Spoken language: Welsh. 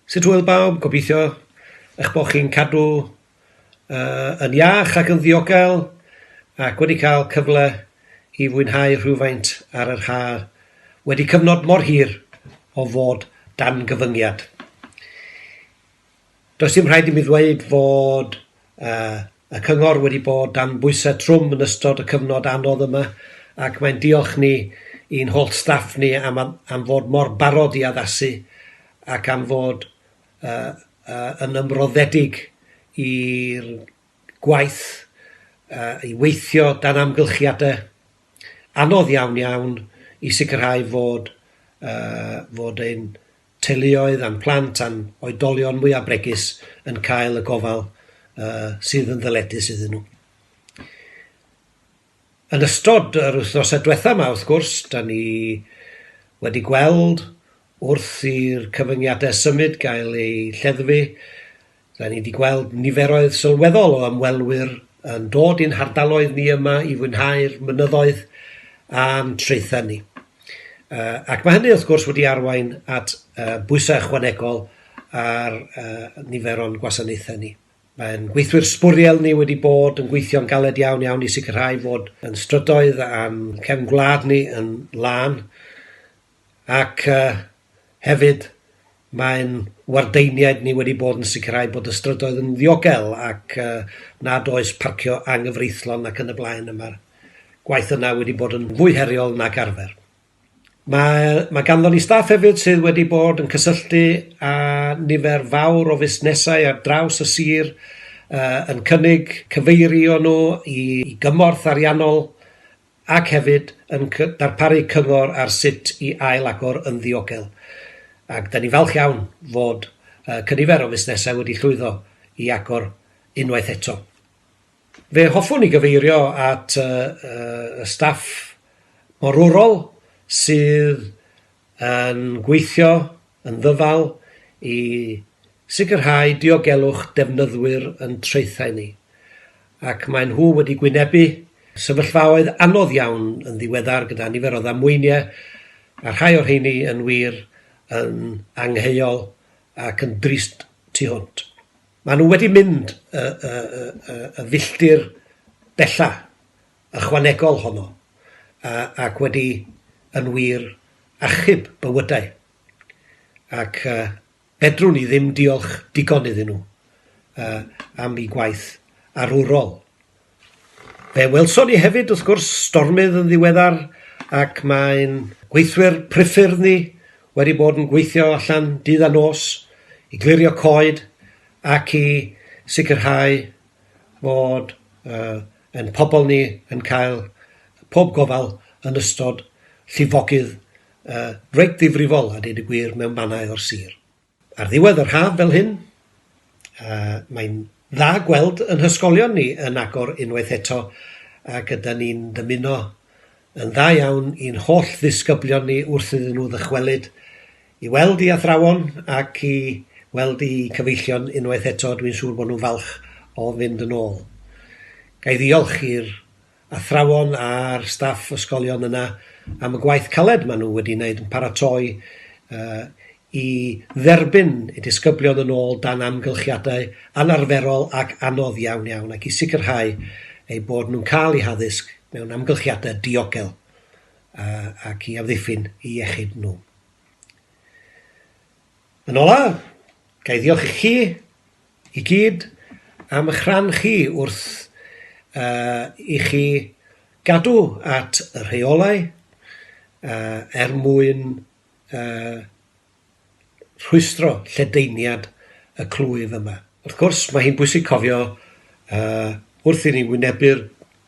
Sut hwyl bawb, gobeithio eich bod chi'n cadw uh, yn iach ac yn ddiogel ac wedi cael cyfle i fwynhau rhywfaint ar yr haf wedi cyfnod mor hir o fod dan gyfyngiad. Does dim rhaid i mi ddweud fod y Cyngor wedi bod dan bwysau trwm yn ystod y cyfnod anodd yma ac mae'n diolch ni i'n holl staff ni am am fod mor barod i addasu ac am fod yn ymroddedig i'r gwaith, i weithio dan amgylchiadau anodd iawn iawn i sicrhau fod fod ein teuluoedd a'n plant a'n oedolion mwyaf bregus yn cael y gofal uh, sydd yn ddyledus iddyn nhw. Yn ystod yr wythnosau diwethaf yma, wrth gwrs, da ni wedi gweld wrth i'r cyfyngiadau symud gael eu lleddfu, R'yn ni 'di gweld niferoedd sylweddol o ymwelwyr yn dod i'n hardaloedd ni yma i fwynhau'r mynyddoedd a'n traethau ni. Yy ac ma' hynny wrth gwrs wedi arwain at yy bwysau ychwanegol ar yy nifer o'n gwasanaethau ni. Mae ein gweithwyr sbwriel ni wedi bod yn gweithio'n galed iawn iawn i sicrhau fod yn strydoedd a'n cefn gwlad ni yn lân. ac yy hefyd mae'n wardeiniaid ni wedi bod yn sicrhau bod y strydoedd yn ddiogel ac yy nad oes parcio anghyfreithlon ac yn y blaen a ma'r gwaith yna wedi bod yn fwy heriol nag arfer. Mae, mae ganddon ni staff hefyd sydd wedi bod yn cysylltu â nifer fawr o fusnesau ar draws y sir uh, yn cynnig cyfeirio nhw i, i gymorth ariannol ac hefyd yn darparu cyngor ar sut i ail-agor yn ddiogel. Ac 'da ni'n falch iawn fod cynifer o fusnesau wedi llwyddo i agor unwaith eto. Fe hoffwn i gyfeirio at y staff morwrol sydd yn gweithio yn ddyfal i sicrhau diogelwch defnyddwyr yn traethau ni, ac maen nhw wedi gwynebu sefyllfaoedd anodd iawn yn ddiweddar gyda nifer o ddamweiniau, a rhai o'r rheiny yn wir yn angheuol ac yn drist tu hwnt. Maen nhw wedi mynd y filltir bellach ychwanegol honno ac wedi yn wir achub bywydau, ac fedrwn i ddim diolch digon iddyn nhw am eu gwaith arwrol. Fe welson ni hefyd, wrth gwrs, stormydd yn ddiweddar, ac mae'n gweithwyr priffyrdd ni wedi bod yn gweithio allan dydd a nos i glirio coed ac i sicrhau fod uh, Ein pobl ni yn cael pob gofal yn ystod llifogydd reit ddifrifol a deud y gwir mewn mannau o'r sir. Ar ddiwedd yr haf fel hyn, mae'n dda gweld yn hysgolion ni yn agor unwaith eto ac ydan ni'n dymuno yn dda iawn i'n holl ddisgyblion ni wrth iddyn nhw ddychwelyd I weld i athrawon ac i weld i cyfeillion unwaith eto, dwi'n siŵr bod nhw'n falch o fynd yn ôl. Ga i ddiolch i'r athrawon a'r staff ysgolion yna am y gwaith caled maen nhw wedi wneud yn paratoi i dderbyn y disgyblion yn ôl dan amgylchiadau anarferol ac anodd iawn iawn ac i sicrhau eu bod nhw'n cael eu haddysg mewn amgylchiadau diogel ac i amddiffyn eu iechyd nhw. Yn ola', ga i ddiolch i chi i gyd am ych rhan chi wrth yy i chi gadw at y rheolau yy er mwyn yy rhwystro lledaeniad y clwyf yma. Wrth gwrs, mae hi'n bwysig cofio yy wrth i ni wynebu'r